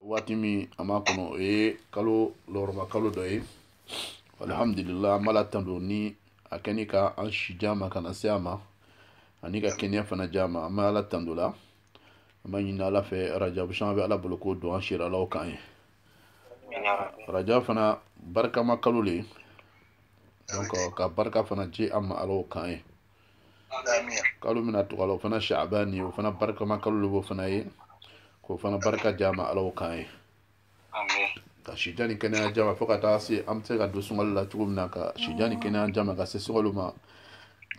waati min an b'a kɔnɔ o ye kalo lɔgɔrɔma kalo dɔ ye alhamdulila an b'ala tando ni a kɛ ni ka an si di an ma ka na se a ma ani ka kɛnɛya fana di an ma an bɛ ala tando la an b'a ɲini ala fɛ rajabu caman bɛ ala bolo k'o don an si ra ala o k'an ye rajab fana barikama kalo le donc ka barika fana di an ma ala o k'an ye kalo min na tugu a la o fana shaban ye o fana barikama kalo de b'o fana ye k'o fana barika di an ma ala o k'an ye ka sijan ni kɛnɛya di an ma fo ka taa se an bɛ se ka don sunkalo la cogo min na ka sijan ni kɛnɛya di an ma ka se sunkalo ma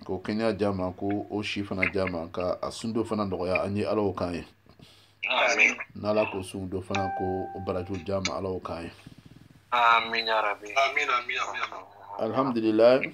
k'o kɛnɛya di an ma k'o si fana di an ma ka a sun don fana nɔgɔya an ye ala o k'an ye n'ala k'o sun don fana k'o barajiw di an ma ala o k'an ye alhamdulilayi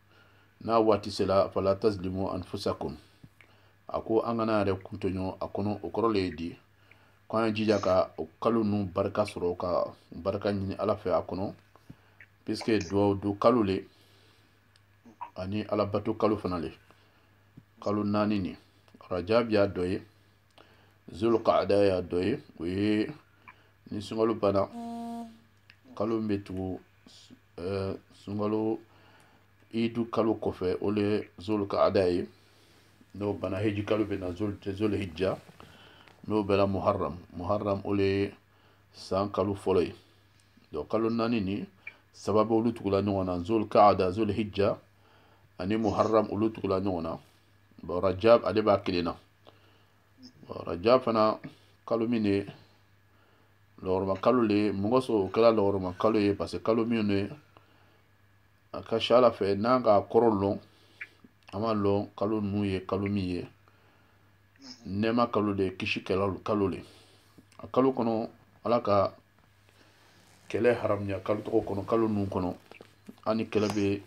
n'a waati sera fala tazlimu anfusakum a ko an kana yɛrɛkun tɔɲɔ a kɔnɔ o kɔrɔ le ye di ko an ye jija ka o kalo ninnu barika sɔrɔ ka barika ɲini ala fɛ a kɔnɔ puisque duwawu don kalo le ani alabato kalo fana le kalo naani nin rajabi y'a dɔ ye zulqaada y'a dɔ ye o ye ni sunkalo banna kalo min bɛ tugu eh, sunkalo idu kalo kɔfɛ o le zulqaada ye n'o banna heji kalo bɛ na zulhijja n'o bɔra muharram muharram o le san kalo fɔlɔ ye donc kalo naani nin saba bɛ olu tugula ɲɔgɔn na zulqaada zulhijja ani muharram olu tugula ɲɔgɔn na bon rajab ale b'a kelen na rajab fana kalo min de lɔgɔrɔma kalo le ye mun kosɔn o kɛra lɔgɔrɔma kalo ye parce que kalo min de a ka ca ala fɛ n'an ka kɔrɔ lɔn an b'a lɔn kalo ninnu ye kalo min ye nɛɛma kalo de kisi kalo le a kalo kɔnɔ ala ka kɛlɛ haramuya kalo tɔgɔ kɔnɔ kalo ninnu kɔnɔ hali ni kɛlɛ bɛ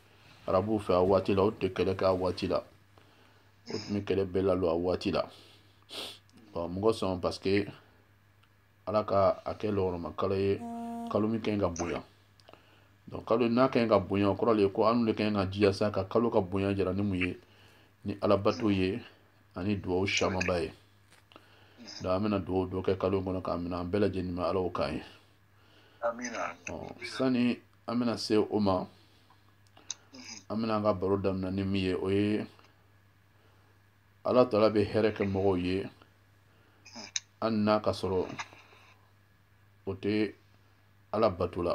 arabuw fɛ a waati la o tun tɛ kɛlɛ kɛ a waati la o tun bɛ kɛlɛ bɛɛ lalɔ a waati la bon mun kosɔn parce que ala ka a kɛ lɔgɔrɔma kalo ye kalo min ka ɲi ka bonya donc kalo n'a ka ɲi ka bonya o kɔrɔ le ye ko an de ka ɲi ka jija sa ka kalo ka bonya jira ni mun ye ni alabato ye ani duwawu camanba ye donc an bɛna duwawu dɔ kɛ kalo in kɔnɔ k'a minɛ an bɛɛ lajɛlen ma ala o k'an ye sani an bɛna se o ma an bɛna an ka baro daminɛ ni min ye o ye ala taala bɛ hɛrɛ kɛ mɔgɔw ye hali n'a ka sɔrɔ o tɛ ala bato la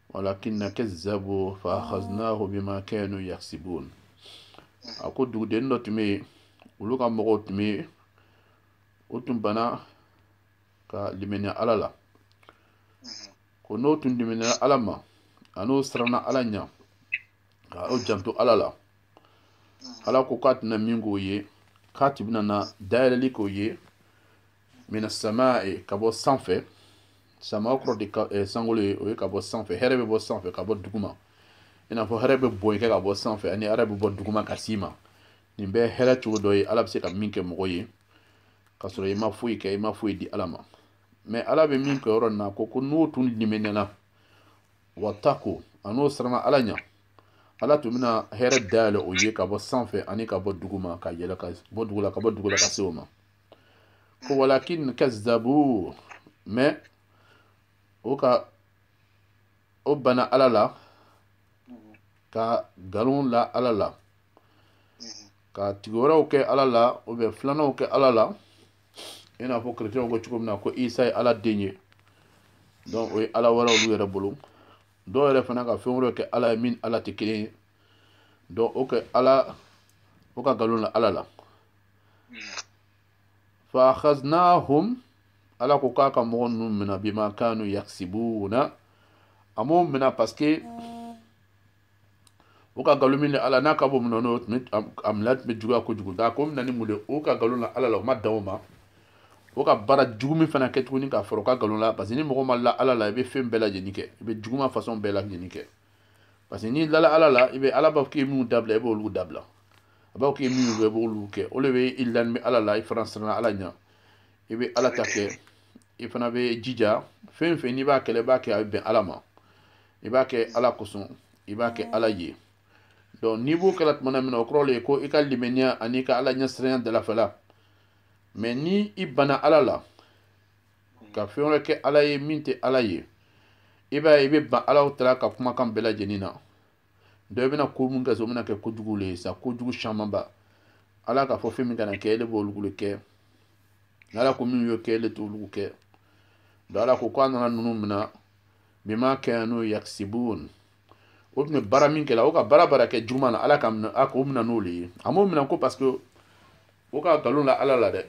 walakin kazzabu fa akhadnahu bima kanu yaksibun a ko dugudennin dɔ tun bɛ yen olu ka mɔgɔw tun bɛ yen o tun bana ka limaniya ala la ko n'o tun limaniya ala ma an'o siranna ala ɲa ka o janto ala la ala ko k'a tɛna min k'o ye k'a tun bɛna na dayɛlɛli k'o ye mina samai ka bɔ sanfɛ sama kɔrɔ de ka eh, sankolo ye o ye ka bɔ sanfɛ hɛrɛ bɛ bɔ sanfɛ ka bɔ duguma i n'a fɔ hɛrɛ bɛ bɔn i kan ka bɔ sanfɛ ani hɛrɛ bɛ bɔ duguma ka s'i ma nin bɛɛ hɛrɛ cogo dɔ ye ala bɛ se ka min kɛ mɔgɔ ye ka sɔrɔ i ma foyi kɛ i ma foyi di ala ma mais ala bɛ min kɛ yɔrɔ nin na ko ko n'o tun limaniyana wattaqaw a n'o siranna ala ɲa ala tun bɛna hɛrɛ dayɛlɛ o ye ka bɔ sanfɛ ani ka bɔ duguma ka yɛlɛ ka bɔ dugu la ka bɔ dugu la ka se o ma ko walakin kazzabu mais o ka o ban ala la ka nkalon la ala la ka tigi wɛrɛw kɛ ala la o bɛ filananw kɛ ala la i n'a fɔ kerecɛnw ko cogo min na ko isa ye ala den ye donc o ye ala wɛrɛ olu yɛrɛ bolo dɔw yɛrɛ fana ka fɛn wɛrɛw kɛ ala ye min n'ala tɛ kelen ye donc o kɛ ala o ka nkalon la ala la fa akhadnahum ala ko k'a ka mɔgɔ ninnu mina bima kanu yaksibuna a m'o mina parce que o ka nkalon min ni ala n'a ka bɔ mun na n'o tun bɛ a minɛ tun bɛ juguya kojugu nk'a k'o minɛ ni mun de o ka nkalon la ala la o ma dan o ma o ka baara jugu min fana kɛ tuguni k'a fara o ka nkalon la parce que ni mɔgɔ ma la ala la i bɛ fɛn bɛɛ lajɛlen kɛ i bɛ juguman façon bɛɛ lajɛlen kɛ parce que n'i lala ala la i bɛ ala b'a fɔ k'i ye minnu dabila i b'olu dabila a b'a fɔ k'i ye minnu kɛ i b'olu kɛ o le bɛ i lanin bɛ ala la i fana siranna ala ɲɛ i bɛ ala ta kɛ i fana bɛ jija fɛn o fɛn n'i b'a kɛla i b'a kɛ a bɛ bɛn ala ma i b'a kɛ ala kosɔn i b'a kɛ ala ye donc n'i b'o kɛla tuma min na o kɔrɔ le ye ko i ka limaniya ani i ka ala ɲɛsiranya dalafala mais ni i bana ala la ka fɛn wɛrɛ kɛ ala ye min tɛ ala ye i b'a ye i bɛ ban alahu taala ka kumakan bɛɛ lajɛlen na donc i bɛna ko mun kɛ sa o bɛna kɛ kojugu le ye sa kojugu camanba ala k'a fɔ fɛn min kana kɛ ele b'olugu le kɛ ala ko minw ye kɛ ele t'olugu kɛ donc ala ko ko a nana ninnu minɛ bima kanu yaksibun o tun bɛ baara min kɛla o ka baara baara kɛ juguman na ala k'a minɛ a k'o minɛ n'o le ye a m'o minɛ ko parce que o ka nkalon la ala la dɛ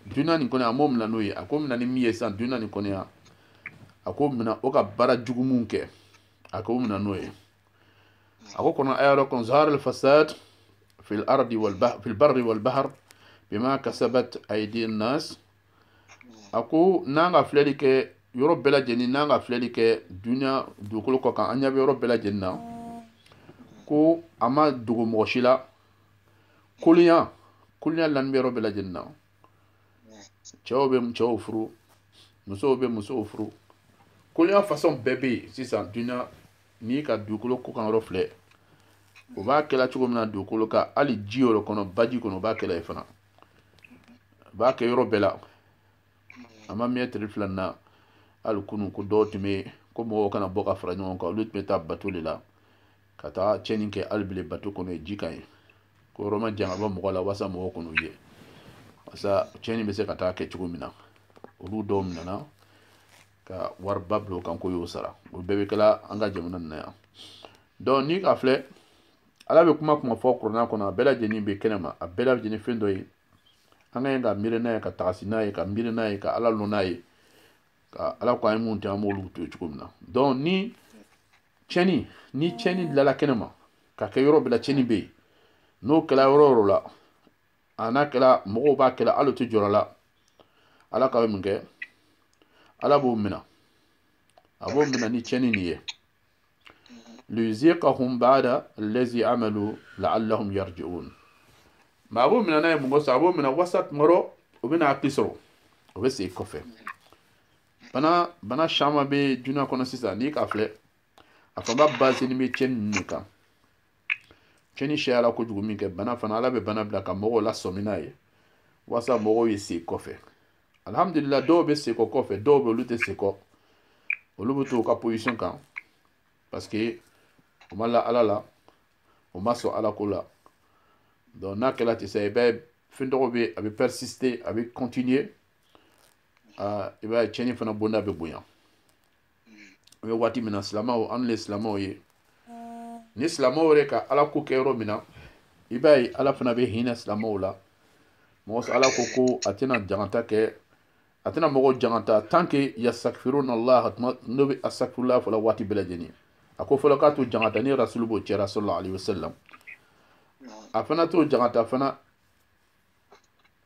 duniɲa nin kɔnɔ a m'o minɛ n'o ye a k'o minɛ ni min ye sisan duniɲa nin kɔnɔ a k'o minɛ o ka baara jugu mun kɛ a k'o minɛ n'o ye a ko kuranɛ aya dɔ kɔnɔ zaharal fasad fil ardi wal fil barri wal bahar bima kasabat aidi nas a ko n'an ka filɛli kɛ yɔrɔ bɛɛ lajɛlen n'an ka filɛli kɛ dunya dugukolo kɔ kan an ɲɛ bɛ yɔrɔ bɛɛ lajɛlen na ko a ma dogo mɔgɔ si la kolonya kolonya lani bɛ yɔrɔ bɛɛ lajɛlen na cɛw bɛ cɛw furu musow bɛ musow furu kolonya fasɔn bɛɛ bɛ yen sisan dunya n'i ka dugukolo kɔ kan yɔrɔ filɛ o b'a kɛla cogo min na dugukolo kan hali ji yɔrɔ kɔnɔ baji kɔnɔ o b'a kɛla yen fana a b'a kɛ yɔrɔ bɛɛ la a ma mɛn tile fila na hali kunu ko dɔw tun bɛ yen ko mɔgɔw kana bɔ ka fara ɲɔgɔn kan olu tun bɛ taa bato de la ka taa cɛnni kɛ hali bile bato kɔnɔ yen ji kan yen ko yɔrɔ majan ka bɔ mɔgɔ la walasa mɔgɔw kan'o ye walasa cɛnni bɛ se ka taa kɛ cogo min na olu dɔw minɛna ka wariba bila o kan k'o y'o sara o bɛɛ bɛ kɛla an ka jamana nin na yan donc n'i k'a filɛ ala bɛ kuma kuma fɔ kurana kɔnɔ a bɛɛ lajɛlen bɛ kɛnɛ ma a bɛɛ lajɛlen fɛn dɔ ye an ka ɲi ka miiri n'a ye ka tagasi n'a ye ka miiri n'a ye ka ala lɔn n'a ye ka ala ko an ye mun tɛ an b'olu to cogo min na donc ni tiɲɛni ni tiɲɛni bilala kɛnɛ ma ka kɛ yɔrɔ bɛɛ la tiɲɛni bɛ yen n'o kɛla yɔrɔ o yɔrɔ la a n'a kɛla mɔgɔw b'a kɛla hali o tɛ jɔrɔ la ala ka bɛ mun kɛ ala b'o minɛ a b'o minɛ ni tiɲɛni nin ye liyuziqahum ba'da allazi amalu la'allahum yarji'un ma a b'o mina n'a ye mun kosɔn a b'o mina walasa mɔgɔw o bɛna hakili sɔrɔ o be segi kɔfɛ bana caman be duniya kɔnɔ sisan n'i k'a filɛ a fanba basini be cɛni ninnu de kan cɛni siyala kojugu min kɛ bana fana ala be bana bila ka mɔgɔw lasɔmi n'a ye walasa mɔgɔw ye segi kɔfɛ alhamdulila dɔw bɛ sekɔ kɔfɛ dɔw bɛ olu tɛ sekɔ olu bɛ to u ka position kan parce que u ma la ala la u ma sɔn ala ko la donc n'a kɛra ten sa i b'a ye fɛn tɔgɔ bɛ a bɛ persister a bɛ continuer aa i b'a ye tiɲɛni fana bonda bɛ bonya. an bɛ waati min na silamɛw an le silamɛw ye ni silamɛw yɛrɛ ka ala ko kɛ yɔrɔ min na i b'a ye ala fana bɛ hinɛ silamɛw la mun kosɔn ala ko ko a tɛna jangata kɛ a tɛna mɔgɔ jangata tant que yastakfiruna allah n'o bɛ astakfirullah fɔla waati bɛɛ lajɛlen a ko fɔlɔ k'a t'o jangata ni rasulu b'o cɛra sallallahu alaihi wasallam a fana t'o jangata fana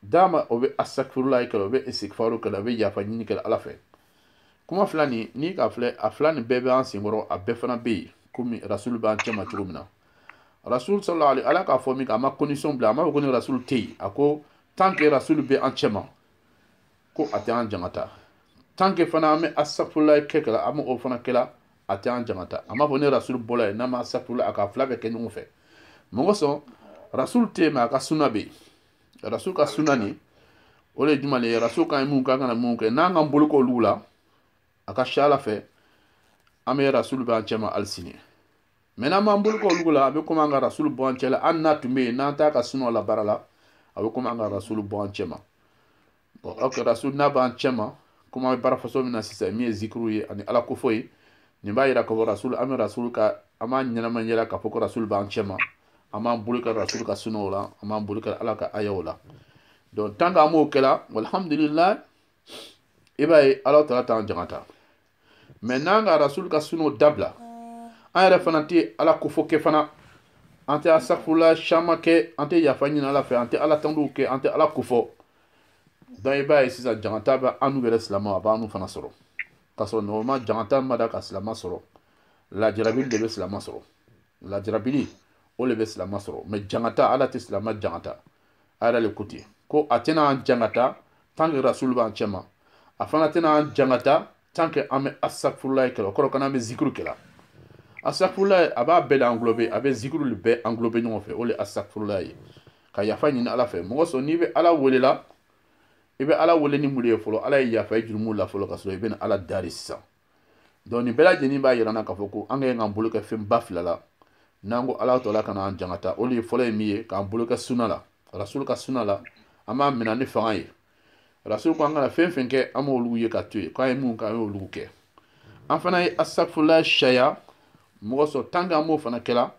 dama o bɛ astakfirullah kɛla o bɛ istighfaru kɛla o bɛ yafa ɲini kɛla ala fɛ kuma fila nin ni k'a filɛ a fila nin bɛɛ bɛ an senkɔrɔ a bɛɛ fana bɛ yen komi rasulu b'an cɛma cogo min na rasulu sallallahu alaihi ala k'a fɔ min kɛ a ma condition bila a ma fɔ ko ni rasulu tɛ yen a ko tant que rasulu bɛ an cɛma ko a tɛ an jangata tant que fana an bɛ astakfirullah kɛ kɛla an bɛ o fana kɛla a tɛ an jangata a m'a fɔ ni rasulu bɔla yen n'a ma astakfirullah a k'a fila bɛɛ kɛ ɲɔgɔn fɛ mun kosɔn rasulu tɛ yen mɛ a ka suna bɛ yen rasul ka sunna nin o le ye jumɛn le ye rasul k'an ye mun kɛ an kana mun kɛ n'an k'an bolo kɛ olu la a ka si ala fɛ an bɛ rasul bɛ an cɛma hali sini mɛ n'an m'an bolo kɛ olu la a bɛ komi an ka rasul bɔ an cɛ la hali n'a tun bɛ yen n'an t'a ka sunnaw labaarala a bɛ komi an ka rasul bɔ an cɛma bɔn oke rasulu n'a b'an cɛ ma komi an bɛ baara fasɔn min na sisan min ye zikiriw ye ani ala kofɔ ye nin b'a yira k'a fɔ rasulu an bɛ rasulu ka an b'a ɲɛnama yira k'a fɔ ko rasulu b'an cɛ ma an b'an bolo kɛ rasulu ka sunaw la an b'an bolo kɛ ala ka ayaw la donc tant que an b'o kɛla walhamdulilayi i b'a ye ala taala t'an jangata mɛ n'an ka rasul ka sunaw dabila an yɛrɛ fana tɛ ala kofɔ kɛ fana an tɛ asafula caman kɛ an tɛ yafa ɲini ala fɛ an tɛ ala tandu kɛ an tɛ ala kofɔ donc i b'a ye sisan jangata bɛ annu yɛrɛ silama a b'annu fana sɔrɔ k'a sɔrɔ normal jangata ma da ka silama sɔrɔ lajarabili de bɛ silama sɔrɔ lajarabili o le bɛ silama sɔrɔ mɛ jangata ala tɛ silama jangata a yɛrɛ le ko ten ko a tɛna an jangata tant que rasulu b'an cɛma a fana tɛna an jangata tant que an bɛ asakfurula ye kɛla o kɔrɔ ko n'an bɛ zikuru kɛla asakfurula ye a b'a bɛɛ le anglobe a bɛ zikuru le bɛɛ anglobe ɲɔgɔn fɛ o le asakfurula ye ka yafa ɲini ala fɛ mɔgɔ sɔn n'i bɛ ala welela i bɛ ala wele ni mun le ye fɔlɔ ala ye yafa i jurumu la fɔlɔ ka sɔrɔ i bɛna ala dari sisan donc nin bɛɛ lajɛlen b'a yirana k'a fɔ ko an ka ɲi k'an bolo kɛ fɛn ba fila la n'an ko ala taala kana an jangata o le ye fɔlɔ ye min ye k'an bolo kɛ suna la rasulu ka suna la an b'a minɛ ni fanga ye rasulu ko an kana fɛn fɛn kɛ an b'olu ye ka to yen k'an ye mun kɛ an y'olu kɛ an fana ye asafula caya mɔgɔ sɔrɔ tant que an b'o fana kɛla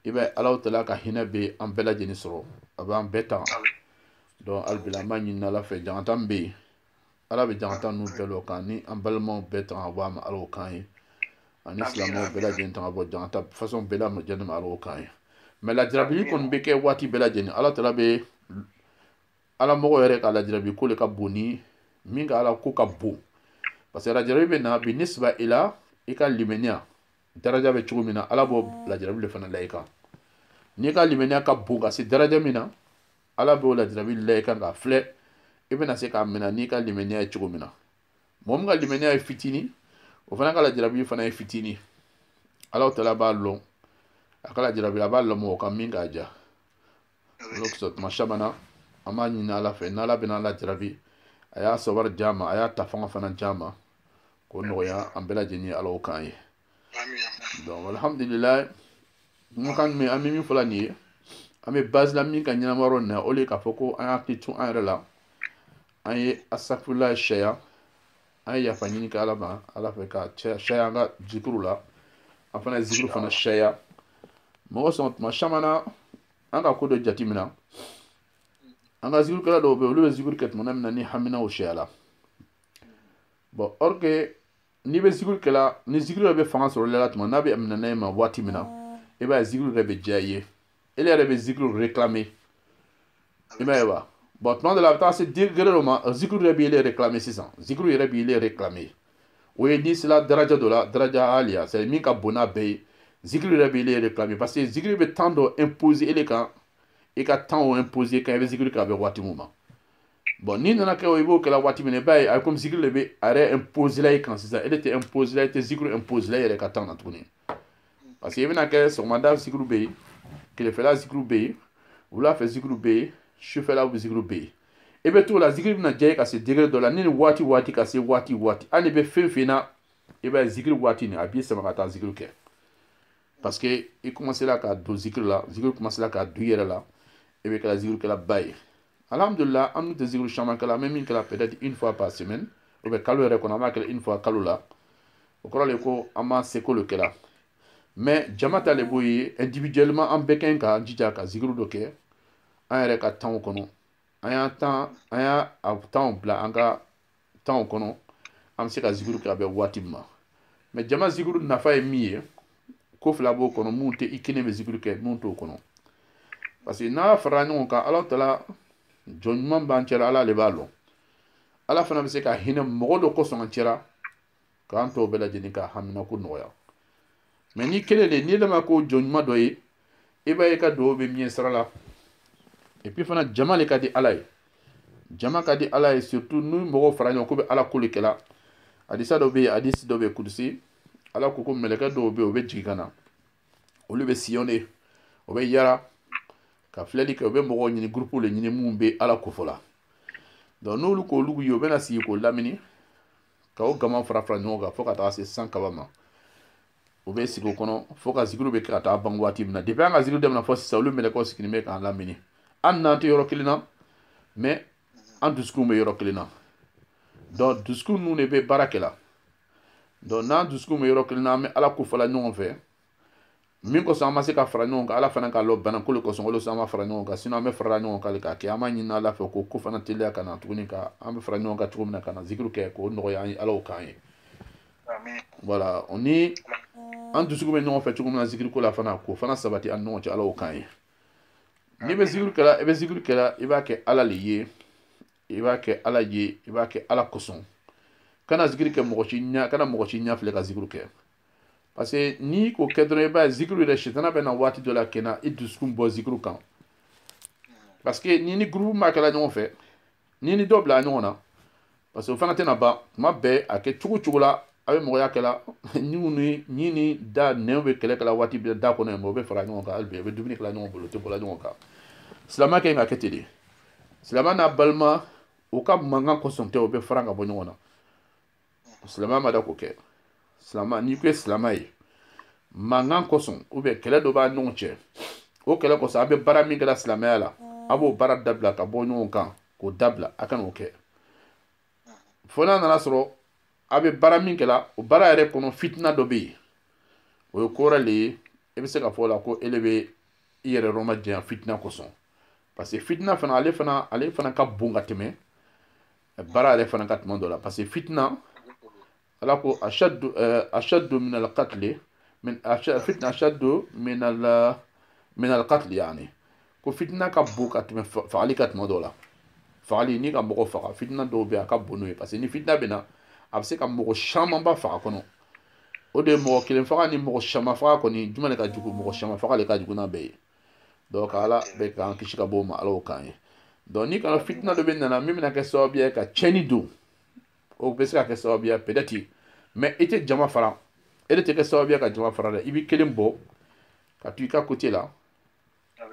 i b'a ye ala taala ka hinɛ bɛ an bɛɛ lajɛlen sɔrɔ a b'an bɛɛ tanga donc alibila an b'a ɲini ala fɛ jangata min bɛ yen ala bɛ jangata ninnu bɛɛ lɔ k'an ni an balimaw bɛɛ tanga bɔ a ma ala o k'an ye ani silamaw bɛɛ lajɛlen tanga bɔ jangata fasɔn bɛɛ lajɛlen ma ala o k'an ye mɛ lajarabi kɔni bɛ kɛ waati bɛɛ lajɛlen ala taala bɛ a la mɔgɔ yɛrɛ ka lajarabi ko le ka bon ni min ka ala ko ka bon parce que lajarabi bɛ na binisiba ila i ka limaniya daraja bɛ cogo min na ala b'o lajarabi le fana la i kan n'i ka limaniya ka bon ka se daraja min na ala b'o lajarabi la i kan k'a filɛ i bɛna se k'a minɛ n'i ka limaniya ye cogo min na mɔgɔ min ka limaniya ye fitini o fana ka lajarabi fana ye fitini ala taala b'a lɔn a ka lajarabi a b'a lɔn mɔgɔ kan min k'a ja o kosɔn tuma caman na an b'a ɲini ala fɛ n'ala bɛna lajarabi a y'a sabari di a ma a y'a ta fanga fana di a ma k'o nɔgɔya an bɛɛ lajɛlen ye ala o k'an ye donc alhamdulilayi mun kan min an bɛ min fɔ la nin ye an bɛ base la min kan ɲɛnama yɔrɔ nin na o le ye k'a fɔ ko an y'an hakili to an yɛrɛ la an ye asafurulayi caya an ye yafa ɲini kɛ ala ma ala fɛ ka caya an ka zikiriw la an fana ye zikiri fana caya mɔgɔ sɔn tuma caman na an ka ko dɔ jateminɛ an ka zikirikɛla dɔw bɛ yen olu bɛ zikiri kɛ tuma min na ni haminaw cayala bɔn or que n'i bɛ zikiri kɛla ni zikiri yɛrɛ bɛ fanga sɔrɔ ele la tuma n'a bɛ minɛ e ma waati min na i b'a ye zikiri yɛrɛ bɛ diya i ye ele yɛrɛ bɛ zikiri réclamer i b'a ye wa bɔn tuma dɔ la a bɛ taa se degere dɔ ma zikiri yɛrɛ b'i ele réclamer sisan zikiri yɛrɛ b'i ele réclamer o ye n'i sera daraja dɔ la daraja aliya c'est min ka bon n'a bɛɛ ye zikiri yɛrɛ b'i ele réclamer parce que zikiri bɛ temps dɔ imposer ele kan i ka temps o imposer i kan i bɛ zikiri kɛ a bɛ waati min ma bɔn n'i nana kɛ o i b'o kɛla waati min na i b'a ye a komi zikiri le bɛ a yɛrɛ imposela i kan sisan ele tɛ imposela i tɛ zikiri imposela i yɛrɛ ka temps na tuguni parce que i bɛna kɛ sɔgɔmada zikiri bɛ yen tilefɛla zikiri bɛ yen wula fɛ zikiri bɛ yen sufɛla zikiri bɛ yen i bɛ t'o la zikiri bɛna diya i ye ka se degere dɔ la ni nin waati waati ka se waati waati hali i bɛ fɛn fɛn na i b'a ye zikiri waati nin a b'i sama ka taa zikiri kɛ parce que i commencela ka don zikiri la zikiri commencela ka don i yɛrɛ la i bɛ kɛla zikirikɛlaba ye alhamdulila an dun tɛ zikiri caman kɛla an bɛ min kɛla peut-être une fois par semaine ou bien kalo yɛrɛ kɔnɔ an b'a kɛla une fois kalo la o kɔrɔ le ko an b'an seko le kɛla mais jama ta le b'o ye individuellement an bɛɛ ka ɲi k'an jija ka zikiri dɔ kɛ an yɛrɛ ka tanw kɔnɔ an y'a tan an y'a tanw bila an ka tanw kɔnɔ an bɛ se ka zikuru kɛ a bɛ waati min ma mais jama zikuru nafa ye min ye ko fila b'o kɔnɔ mun tɛ i kelen bɛ zikuru kɛ mun t'o kɔnɔ parce que n'an farala ɲɔgɔn kan ala tala jɔn ɲuman b'an cɛla ala le b'a lɔn ala fana bɛ se ka hinɛ mɔgɔ dɔ kosɔn an cɛla k'an tɔw bɛɛ lajɛlen ka haminako nɔgɔya mais n'i kelen de n'ele ma kɛ jɔn ɲuman dɔ ye i b'a ye i ka dugawu bɛ mɛɛn sira la et puis fana jama le ka di ala ye jama ka di ala ye surtout ni mɔgɔw fara ɲɔgɔn kan o bɛ ala ko le kɛla hadisa dɔ bɛ yen hadisi dɔ bɛ yen kudusi ala ko ko mɛlɛkɛ dɔw bɛ yen o bɛ jigin ka na olu bɛ sillonner o bɛ yara ka filɛli kɛ u bɛ mɔgɔw ɲini gurupu le ɲini minnu bɛ ala kofɔ la donc n'olu k'olu ye u bɛna sigi k'o lamini ka o gaman fara fara ɲɔgɔn kan fo ka taa se san kaba ma u bɛ sigi o kɔnɔ fo ka zikiri bɛ kɛ ka taa ban waati min na depuis an ka zikiri daminɛ fo sisan olu mɛlɛkɛw sigilen bɛ k'an lamini hali n'an tɛ yɔrɔ kelen na mais an dusukunw bɛ yɔrɔ kelen na donc dusukun ninnu de bɛ baara kɛ la donc n'an dusukun bɛ yɔrɔ kelen na an bɛ ala ko fɔla ɲɔgɔn fɛ min kosɔn an ma se ka fara ɲɔgɔn kan ala fana k'a lɔ bana ko le kosɔn o le kosɔn an ma fara ɲɔgɔn kan sinɔn an bɛ farala ɲɔgɔn kan le k'a kɛ an b'a ɲini ala fɛ ko k'o fana teliya ka na tuguni ka an bɛ fara ɲɔgɔn kan cogo min na ka na zikiri kɛ k'o nɔgɔya an ye ala o k'an ye voilà o ni an dusukun bɛ ɲɔgɔn fɛ cogo min na zikiri ko la fana k'o fana sabati an ni ɲɔgɔn cɛ ala o k'an ye n'i bɛ zikiri kɛla i bɛ zikiri kɛla i b'a kɛ ala le ye i b'a kɛ ala ye i b'a kɛ ala kosɔn kana zikiri kɛ mɔgɔ si ɲɛ kana mɔgɔ si ɲɛ filɛ ka zikiri kɛ parce que n'i k'o kɛ dɔrɔn i b'a ye zikiri yɛrɛ sitana bɛ na waati dɔ la ka na i dusukun bɔ zikiri kan parce que n'i ni groupe ma kɛla ɲɔgɔn fɛ n'i ni dɔ bila ɲɔgɔn na parce que o fana tɛna ban tuma bɛɛ a kɛ cogo cogo la a bɛ mɔgɔya kɛla ɲinw ni ni ni da nɛnw bɛ kɛlɛ kɛla waati bɛɛ da kɔnɔ yen o bɛ fara ɲɔgɔn kan hali bi a bɛ dumuni kɛla ɲɔgɔn bolo o tɛ bɔla ɲɔgɔn kan silamɛ ka kan ka kɛ ten de silamɛ n'a balima u ka mankan kosɔn tɛ u bɛ fara ka bɔ ɲɔgɔn na silamɛ ma da k'o kɛ silamɛ n'i ko i ye silamɛ ye mankan kosɔn ou bien kɛlɛ dɔ b'a ɲɔgɔn cɛ o kɛlɛ kosɔn a bɛ baara min kɛla silamɛya la a b'o baara dabila ka bɔ ɲɔgɔn kan k'o dabila a kana o kɛ fo n'a nana sɔrɔ a bɛ baara min kɛla o baara yɛrɛ kɔnɔ fitina dɔ bɛ yen o ye ko wɛrɛ le ye e bɛ se ka fɔ o la ko ele bɛ i yɛrɛ yɔrɔ ma janya fitina kosɔn parce que fitina fana ale fana ale fana ka bon ka tɛmɛ baara yɛrɛ fana kan tuma dɔ la parce que fitina ala ko ashaddu ashaddu min alqatli min fitina ashaddu min al min alqatli yani ko fitina ka bon ka tɛmɛ fagali kan tuma dɔ la fagali n'i ka mɔgɔ faga fitina dɔw bɛ a ka bon n'o ye parce que ni fitina bɛ na a bɛ se ka mɔgɔ camanba faga kɔnɔ o de ye mɔgɔ kelen faga ni mɔgɔ caman faga kɔni jumɛn de ka jugu mɔgɔ caman faga de ka jugu n'a bɛɛ ye donc ala bɛ k'an kisi ka bɔ o ma ala o k'an ye donc n'i kana fitina dɔ bɛ nana min bɛna kɛ sababu ye ka tiɲɛni don o bɛ se ka kɛ sababu ye peut-être mais i tɛ jama fara ele tɛ kɛ sababu ye ka jama fara dɛ i b'i kelen bɔ ka to i ka côté la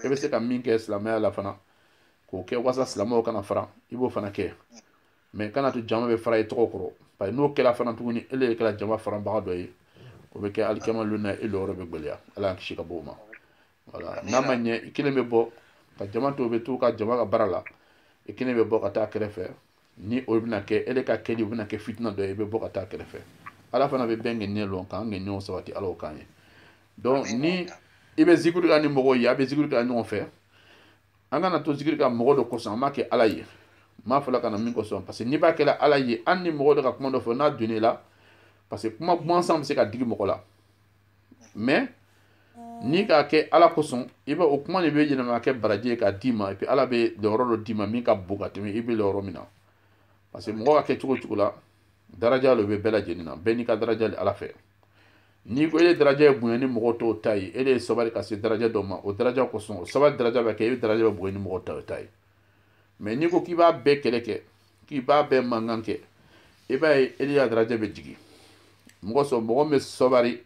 e bɛ se ka min kɛ silamɛya la fana k'o kɛ walasa silamɛw kana fara i b'o fana kɛ mais kana to jama bɛ fara i tɔgɔ kɔrɔ parce que n'o kɛla fana tuguni ele de kɛla jama faranbaga dɔ ye o bɛ kɛ alikiyama lon na e lɔyɔrɔ bɛ gwɛlɛya ala y'an kisi ka bɔ o ma voilà n'a ma ɲɛ i kelen bɛ bɔ ka jama to bɛ to ka jama ka baara la i kelen bɛ bɔ ka taa kɛrɛfɛ ni o bɛna kɛ ele ka kɛli o bɛna kɛ fitina dɔ ye i bɛ bɔ ka taa kɛrɛfɛ ala fana bɛ bɛɛ ŋaniya lɔn k'an ŋaniyaw sabati ala o k'an ye donc ni i bɛ zikiri kɛ ni mɔgɔw ye a bɛ zikiri kɛ ɲɔgɔn fɛ an kana to zikiri kɛ mɔgɔ dɔ kosɔn an b'a kɛ ala ye n b'a fɔla ka na min kosɔn parce que n'i b'a kɛla ala ye hali ni mɔgɔ dɔ ka kuma dɔ fɔ n'a donna i la parce que kuma gansan bɛ se ka digi mɔgɔ la mais n'i k'a kɛ ala kosɔn i b'a o kuma de bɛ yɛlɛma ka kɛ baraji ye k'a d'i ma et puis ala bɛ lɔyɔrɔ dɔ d'i ma min ka bon ka tɛmɛ i bɛ lɔyɔrɔ min na parce que mɔgɔ ka kɛ cogo cogo la daraja lo bɛ bɛɛ lajɛlen na bɛɛ n'i ka daraja le ala fɛ n'i ko e ye daraja ye bonya ni mɔgɔ tɔw ta ye e le ye sabali ka se daraja dɔ ma o daraja kosɔn o sabali daraja bɛ kɛ e daraja bɛ bonya ni mɔgɔ tɔw ta ye mais n'i ko k'i b'a bɛɛ kɛlɛ kɛ k'i b'a bɛɛ mankan kɛ i b'a ye e le ka daraja bɛ jigin mɔgɔ sɔrɔ mɔgɔ min bɛ sabari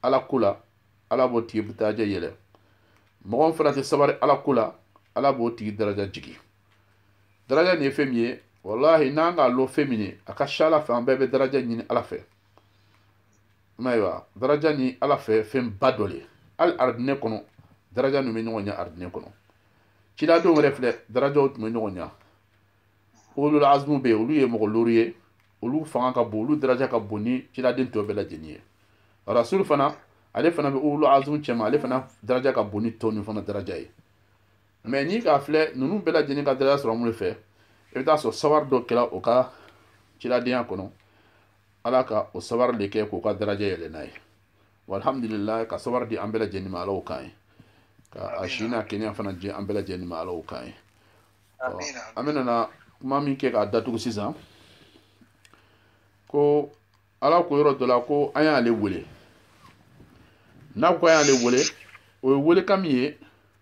ala ko la ala b'o tigi daraja yɛlɛ mɔgɔ min fana tɛ sabari ala ko la ala b'o tigi daraja jigin daraja nin ye fɛn min ye walahi n'an k'a lɔn fɛn min ye a ka ca ala fɛ an bɛɛ bɛ daraja ɲini ala fɛ ayiwa daraja ni ala fɛ fɛnba dɔ le hali arijinɛ kɔnɔ daraja ninnu bɛ ɲɔgɔn ɲɛ arijinɛ kɔnɔ ciladenw yɛrɛ filɛ darajaw tun bɛ ɲɔgɔn ɲɛ ulul azmu bɛ yen olu ye mɔgɔ looru ye olu fanga ka bon olu daraja ka bon ni ciladen tɔ bɛɛ lajɛlen ye rasulu fana ale fana bɛ ulul azmu cɛma ale fana daraja ka bon ni tɔ ninnu fana daraja ye mais n'i k'a filɛ ninnu bɛɛ lajɛlen ka daraja sɔrɔ mun le fɛ i bɛ taa sɔrɔ sawari dɔ kɛla o ka ciladenya kɔnɔ ala ka o sawari de kɛ k'o ka daraja yɛlɛ n'a ye walhamdulilayi ka sawari di an bɛɛ lajɛlen ma ala o k'an ye ka a si n'a kɛnɛya fana di an bɛɛ lajɛlen ma ala o k'an ye an bɛna na kuma min kɛ k'a datugu sisan ko ala ko yɔrɔ dɔ la ko an y'ale wele n'a ko an y'ale wele o ye welekan min ye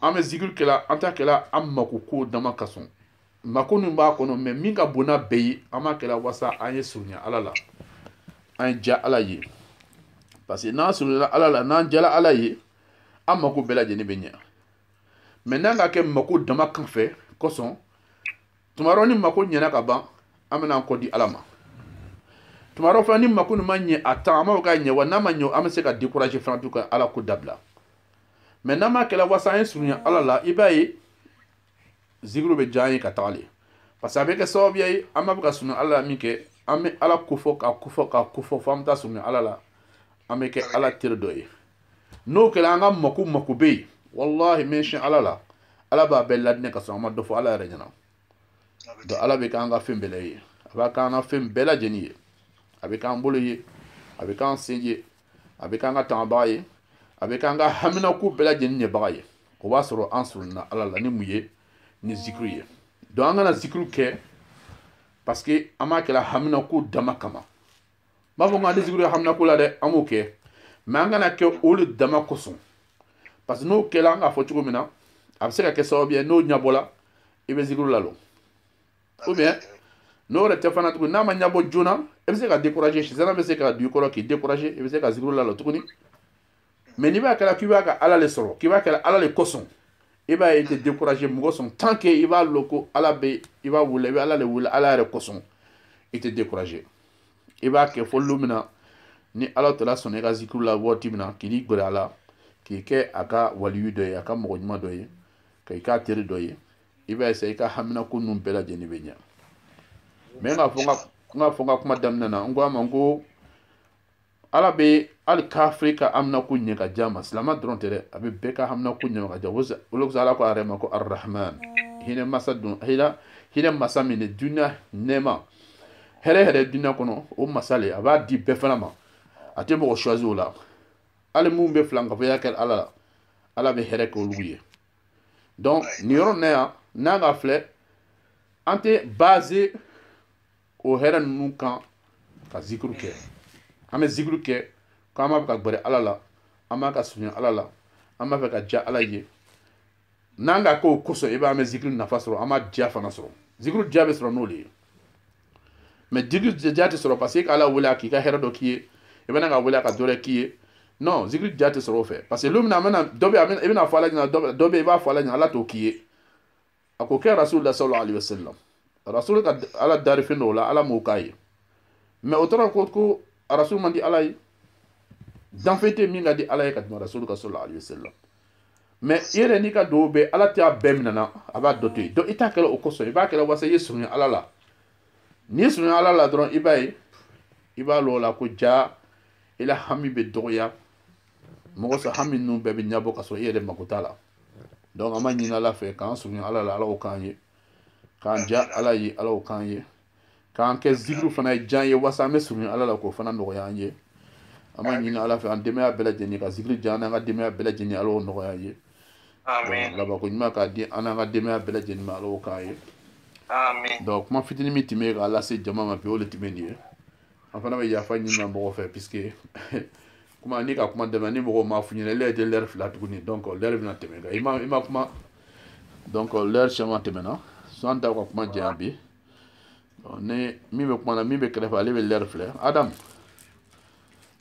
an bɛ zikiri kɛla an t'a kɛla an mako ko dama kosɔn mako min b'a kɔnɔ mais min ka bon n'a bɛɛ ye an b'a kɛla wasa an ye surunya ala la an ye diya ala ye parce que n'an surunyana ala la n'an diyala ala ye an mako bɛɛ lajɛlen bɛ ɲɛ mais n'an k'a kɛ mako dama kan fɛ kosɔn tuma dɔ ni mako ɲɛna ka ban an bɛna an kɔ di ala ma tuma dɔ fana ni mako nin ma ɲɛ a tan an b'a fɔ k'a ɲɛ wa n'a ma ɲɛ an bɛ se ka décourager fana du ka ala ko dabila mais n'an b'a kɛla wasa an ye surunya ala la i b'a ye zikiri bɛ diya an ye ka taga le parce que a bɛ kɛ sababuya ye an b'a fɛ ka surunya ala la min kɛ an bɛ ala kofɔ ka kofɔ ka kofɔ fo an bɛ taa surunya ala la an bɛ kɛ ala teri dɔ ye n'o kɛla an ka mako mako bɛ yen walahi n bɛ siyɛn ala la ala b'a bɛɛ ladinɛ ka sɔrɔ an ma dɔ fɔ ala yɛrɛ ɲɛ na donc ala bɛ k'an ka fɛn bɛɛ la ye a b'a k'an ka fɛn bɛɛ lajɛlen ye a bɛ k'an bolo ye a bɛ k'an sen ye a bɛ k'an ka tangabaga ye a bɛ k'an ka haminako bɛɛ lajɛlen ɲɛbaga ye o b'a sɔrɔ an surunyana ala la ni mun ye ni zikiri ye donc an kana zikiri kɛ parce que an b'a kɛla haminako dama kama n m'a fɔ ko an tɛ zikiri haminako la dɛ an b'o kɛ mais an kana kɛ o le dama kosɔn parce que n'o kɛla an k'a fɔ cogo min na a bɛ se ka kɛ sababu ye n'o ɲɛbɔla i bɛ zikiri lalɔ ou bien n'o yɛrɛ tɛ fana tuguni n'a ma ɲɛbɔ joona i bɛ se ka décourager sitana bɛ se ka don i kɔrɔ k'i décourager i bɛ se ka zikiri lalɔ tuguni mais n'i b'a kɛla k'i b'a ka ala le sɔrɔ k'i b'a kɛla ala le kosɔn i b'a ye i tɛ décourager mun kosɔn tant que i b'a lɔn ko ala bɛ i b'a wele i bɛ ala le wele ala yɛrɛ kosɔn i tɛ décourager i b'a kɛ fo don min na ni ala taala sɔnna i ka zikiri la waati min na k'i ni gɛrɛ a la k'i kɛ a ka waliyu dɔ ye a ka mɔgɔ ɲuman dɔ ye k'i k'a teri dɔ ye i b'a ye sa i ka haminako ninnu bɛɛ lajɛlen bɛ ɲɛ mais k'a fɔ n k'a fɔ n ka kuma daminɛ na n ko a ma n ko ala bɛ hali kafiri ka haminako ɲɛ ka di a ma silama dɔrɔn tɛ dɛ a bɛ bɛɛ ka haminako ɲɛ ka di a ma o de kosɔn ala ko a yɛrɛ ma ko arahman hinɛ masa don hinɛ hinɛ masa min de dunya nɛɛma hɛrɛ hɛrɛ dunya kɔnɔ o masa le a b'a di bɛɛ fana ma a tɛ mɔgɔ choisi o la hali minnu bɛ filankafoya kɛ ala la ala bɛ hɛrɛ kɛ olu ye donc nin yɔrɔ nin na yan n'an k'a filɛ an tɛ baser o hɛrɛ ninnu kan ka zikuru kɛ an bɛ zikuru kɛ ko an b'a fɛ ka gbɛrɛ ala la an b'a ka surunya ala la an b'a fɛ ka diya ala ye n'an k'a k'o kosɔn i b'a ye an bɛ zikiri nafa sɔrɔ an b'a diya fana sɔrɔ zikuru diya bɛ sɔrɔ n'o de ye mais zikiri diya tɛ sɔrɔ parce que k'ala wele a k'i ka hɛrɛ dɔ k'i ye i bɛ na k'a wele a ka dɔ wɛrɛ k'i ye non zikiri diya tɛ sɔrɔ o fɛ parce que lon min na a bɛna dɔ bɛ i bɛna fɔ ala ɲɛna dɔ bɛ i b'a fɔ ala ɲɛna ala t'o k'i ye a k'o kɛ rasulullah sallallahu alaihi wasallam rasul ka ala dari fɛn dɔw la ala m'o k'a ye mais o t'a yira ko ko rasul man di ala ye danfɛn tɛ min ka di ala ye ka tɛmɛ rasul kan sallallahu alaihi wasallam mais i yɛrɛ n'i ka dugawu bɛɛ ala tɛ a bɛɛ minɛna a b'a dɔ to yen donc i t'a kɛla o kosɔn i b'a kɛla wasa i ye surunya ala la n'i ye surunya ala la dɔrɔn i b'a ye i b'a lɔn o la ko jaa i la hami bɛ dɔgɔya mun kosɔn hami ninnu bɛɛ bɛ ɲɛbɔ ka sɔrɔ i yɛrɛ mako t'a la donc an b'a ɲini ala fɛ k'an surunya ala la ala o k'an ye k'an diya ala ye ala o k'an ye k'a kɛ zikiri fana ye diya an ye wasa an bɛ surunya ala la k'o fana nɔgɔya an ye an b'a ɲini ala fɛ an denbaya bɛɛ lajɛlen ka zikiri diya an n'an ka denbaya bɛɛ lajɛlen ala y'o nɔgɔya an ye labanko ɲuman k'a di an n'an ka denbaya bɛɛ lajɛlen ma ala y'o k'an ye donc kuma fitinin min tun bɛ k'a lase jama ma bi o de tun bɛ nin ye an fana bɛ yafa ɲinina mɔgɔ fɛ puisque kuma n'i ka kuma damina ni mɔgɔ m'a f'i ɲɛna ele tɛ lɛri filɛ tuguni donc lɛri bɛna tɛmɛ kan i ma i ma kuma donc lɛri caman tɛmɛna so an t'a ka kuma janya bi ni min bɛ kuma na min bɛ kɛrɛfɛ ale bɛ lɛri filɛ adamu